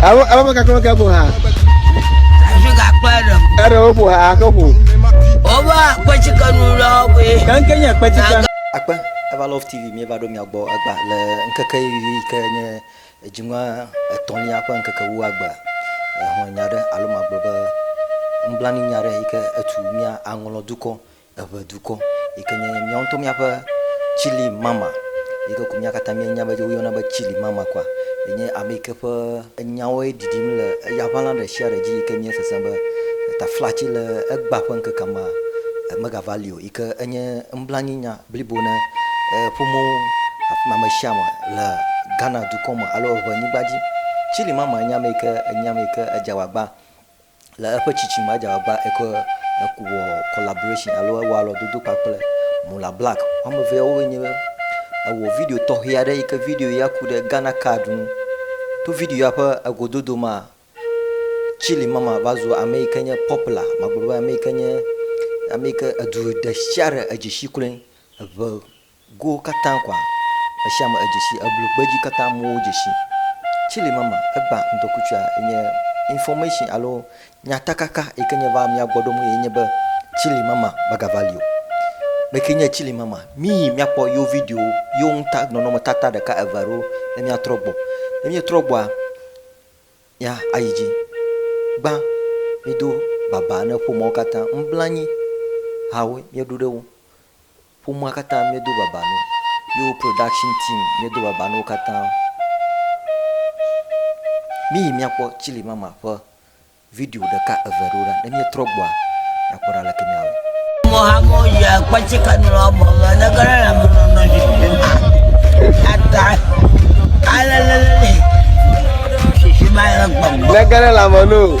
Abo abo me kaklo ke bo ha. Afi ka kpe ɖe. Eɖe wo bo ha ke bo. Oba kpetsi kanu lɔ be. Kanke nye kpetsi kanu. Akpe eva Love TV mi eva ɖo mia gbɔ egba le nkeke yi ke nye edziŋua etɔ̃lia ƒe nkeke wu agba. Ehɔn nya ɖe alo magblɔ be nublanui nya ɖe yi ke etu mia aŋlɔ dukɔ Eƒe dukɔ, yi ke nye míawo ŋutɔ míaƒe Chili mama, yi ke ko mía katã míenya be woyɔna be Chili mama koa, enye ame yi ke ƒe enyawoe ɖiɖim le eya ʋãla ɖe sia ɖe dzi yi ke míesesẽ be taflatsi le egbea ƒe ŋkekea mea, megava li o, yi ke enye nublanuinya blibo na ƒomewo, ame sia ame le Ghana dukɔ me alo eŋe nyigba dzi. Chili mama enye ame yi ke, enye ame yi ke edze agbagba. Le eƒe tsitsi me, edze agbagba eke wɔ collaboration alo ewɔ alɔdodo kpakple Mola Black. Woame evea wowoe nye be ewɔ video tɔxɛ aɖe yi ke video ya ku ɖe Ghana card ŋu. To video ya ƒe egododo mea, Chilli Mama va zu ame yi ke nye popular, magblɔ be ame yi ke nye ame yi ke edu ɖesiaɖe edzi si kloe. Eve go katã koa esiame edzesi eblu gbedzi katã muwo dzesi tsili mama egba ŋdɔkutsua enye information alo nyatakaka yike nye va mia gbɔɖom eye nye be tsili mama magava lio meke nye tsili mama miyi miakpɔ yo video yo ŋta nɔnɔme tata ɖeka eve alo ne miatrɔ gbɔ ne mietrɔ gbɔa ya ayi dzi gbã mido baba ne ƒomɔwo katã ŋblanyi hawo mieɖu ɖewo Ƒomea katã míedo baba no. Yewo production team míedo baba no wo katã. Míyi míakpɔ Chilli Mama ƒe video ɖeka eve ɖewo ɖa ne míetrɔ gbɔa míakpɔ ɖa aleke míawɔe. Mo hamo ya kwache kanura mo ma na gara la mo no no je ma ata ala la la ne shi shi ma ya gbam. Na gara la mo no.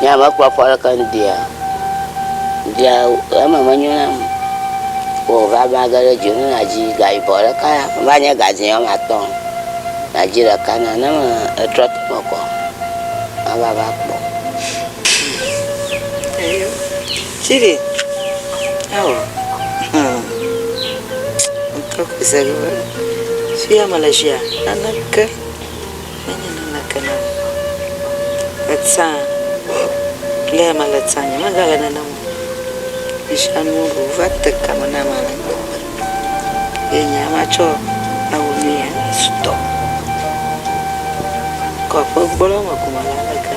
Nye hã mekpɔ afɔ aɖeke ŋdia o. Ŋdia o, eme menyo nam o. Wò va va ge ɖe dzonu na dzi ga yibɔ ɖeka ya va nye ga dzi wɔme atɔ̃ na dzi ɖeka na ne me etrɔ to eme kɔ mava va kpɔ. Chidi ao hum ŋtɔ ƒe se ge be fia mele tsia naneke. Menye naneke nam o. Etsã, le ya mele etsã nye megale nenem o. Metsã nuwo ɖo va te ka me na ame le gbegbe. Ye nye ya matsɔ awu nu ya sutɔ. Kɔ ƒe gbɔ ɖe eme ko ma la le ke.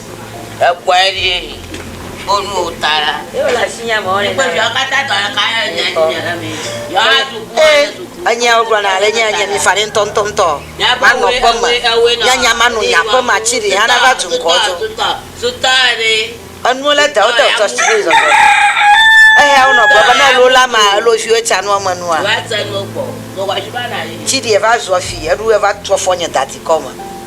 Ekpɔe ɖi wo nu wo ta la. Eyo le asi nya me wɔle. Ekpɔ viawo katã tɔ ɖeka ya le nya dzi nya me. Yawo atu ku wa le suku. Enya wo gblɔ na le nya nya mi fa ɖe ŋtɔ ŋtɔ ŋtɔ. Ma nɔ kpɔ me. Nya nya ma nu nya kpɔ ma ci ɖi ha na va tu ŋkɔ dzo. Sutɔ sutɔ ɖe. Enu le da wo da tɔ si ɖi zɔzɔ. Eya wo nɔ gblɔ be ne lo la ma lo vi wo ca nua me nua. Wa ca nua gbɔ. Gbɔ wa ci ba na yi. Ci ɖi va zua fi eɖu va tu afɔ nye da ti kɔ me.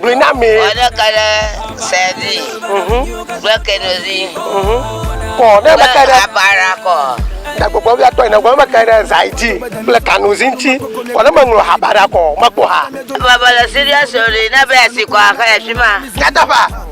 Gblɔe na mi. Wɔ ɖeka ɖe sedi kple kedozi. Kɔ ne meke ɖe. Abara kɔ. Gbɔgbɔ via tɔ ina gbɔ meke ɖe zaidi kple kanuzi ŋuti. Kɔ ne meŋlɔ abara kɔ mekpɔ ha. Baba le serious o ɖe na be asi kɔ axa ya fima. Nyateƒea.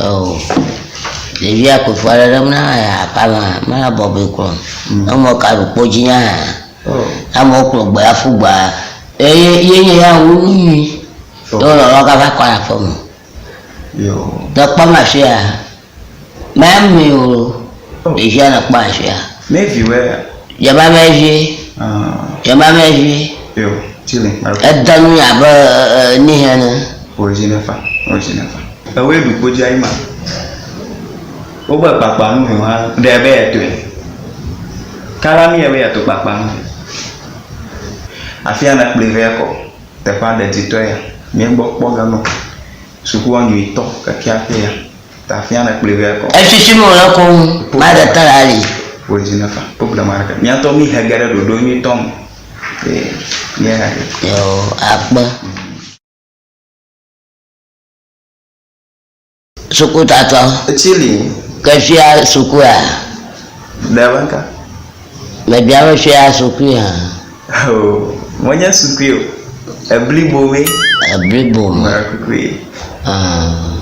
Eo, ɖevia ku fɔ aɖe ɖem na aƒeme, ame ɖe bɔbɔe kplɔ emɔ kaɖu kpo dzi na amewo kplɔ gbe aƒu gba eye yeye ya wo nu nyui ye wonɔ lɔ gava kɔ le aƒeme. Yo. Te kpɔm afia mea mi o. Ɖevia le kpɔ asia. Mɛ vi wɛ. Yaba mɛ vi. Yaba mɛ vi. Yo, ti le kpa. Eda nu ya be ni hɛ ne. O zi ne fa. O zi ne fa. Ewe du ko jai ma. O be kpakpa nu me ha. De be ya to. Kala mi ya be ya to kpakpa nu. Afia na kple ve ko. Te pa de ti to ya. Mɛ gbɔ kpɔ ga no. Suku wa nui to. Ke kia te ya. Etsitsi nu wòle koŋ va ɖe te le ali. Yoo akpe. Sukutatɔ. Ke fia sukua? Mebia be fia sukui hã? Oo, menye sukui o, eblibo mee. Eblibo me. Mewɔ kukui. Ah.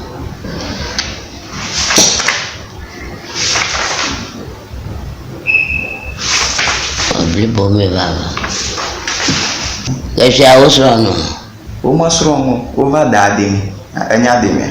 Eblibo mee vava. Efia wosrɔ̃ nu. Womesrɔ̃ nu, wova da deme, enya demea.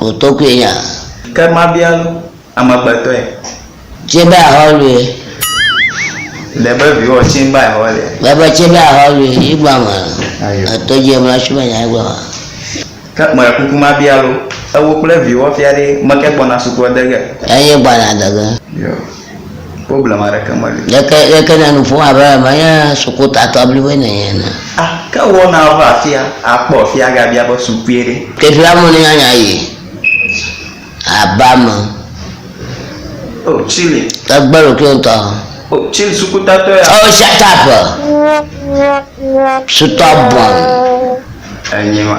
O tɔgbe ya. Ke mabia lu amegbetɔe. Tse be ahɔ lue. Le be viwɔ tse be ahɔ le. Le be tse be ahɔ lue yi gba ma. Etɔ dje mla tsu be nya yi gba ma. Ke me kuku mabia lu. Ewo kple viwɔ fia ɖe meke gbɔna sukɔ dege. Enye gbana dege. Yo. Problem aɖeke meli. Yeke yeke na nu ƒom abe menye sukutatɔ bliboe nènye ene. A, ke wɔ na ava afia akpɔ afia agabia be sukue ɖe. Teƒea me nunyanya yi aba me. O, Chile. Egbe ɖokuiwò ŋutɔ. O, Chile sukutatɔ ya. Oh, shut up! Sutɔ bɔn. Enye ma.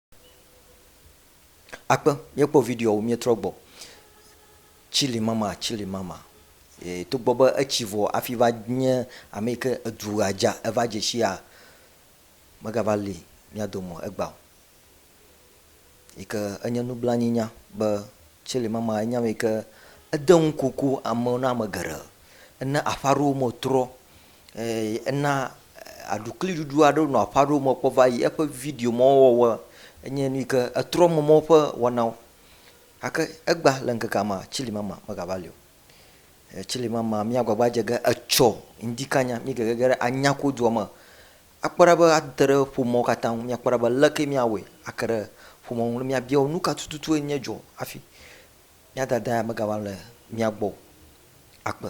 Akpe, míekpɔ videoawo, míetrɔ gbɔ. Chile mama, Chile mama. Ee, togbɔ be etsi vɔ hafi va nye ame yi ke edu ɣedza eva dze sia, megava li mía dome o, egbea o. Yi ke enye nublanuinya be Chile mama enye ame yi ke ede ŋukoku amewo na ame geɖe. Ena aƒe aɖewo me trɔ. Ena aɖukliɖuɖu aɖe nɔ aƒe aɖewo me kpɔ va yi eƒe video ma wɔwɔ enye nu yi ke etrɔ mɔwo ƒe wɔnawo gake egba le ŋkekea mea tsilimama megava li o. Tsilimama míagbagba adze ge etsɔ ŋdi kanya mí gege ge ɖe anyakodua me akpɔ ɖa be ate ɖe ƒomeawo katã ŋu míakpɔ ɖa be ale ke míawɔe ake ɖe ƒomeawo ŋu ne míabia wo nu ka tututu enye dzɔ hafi mía dada ya megava le mía gbɔ o. Akpe.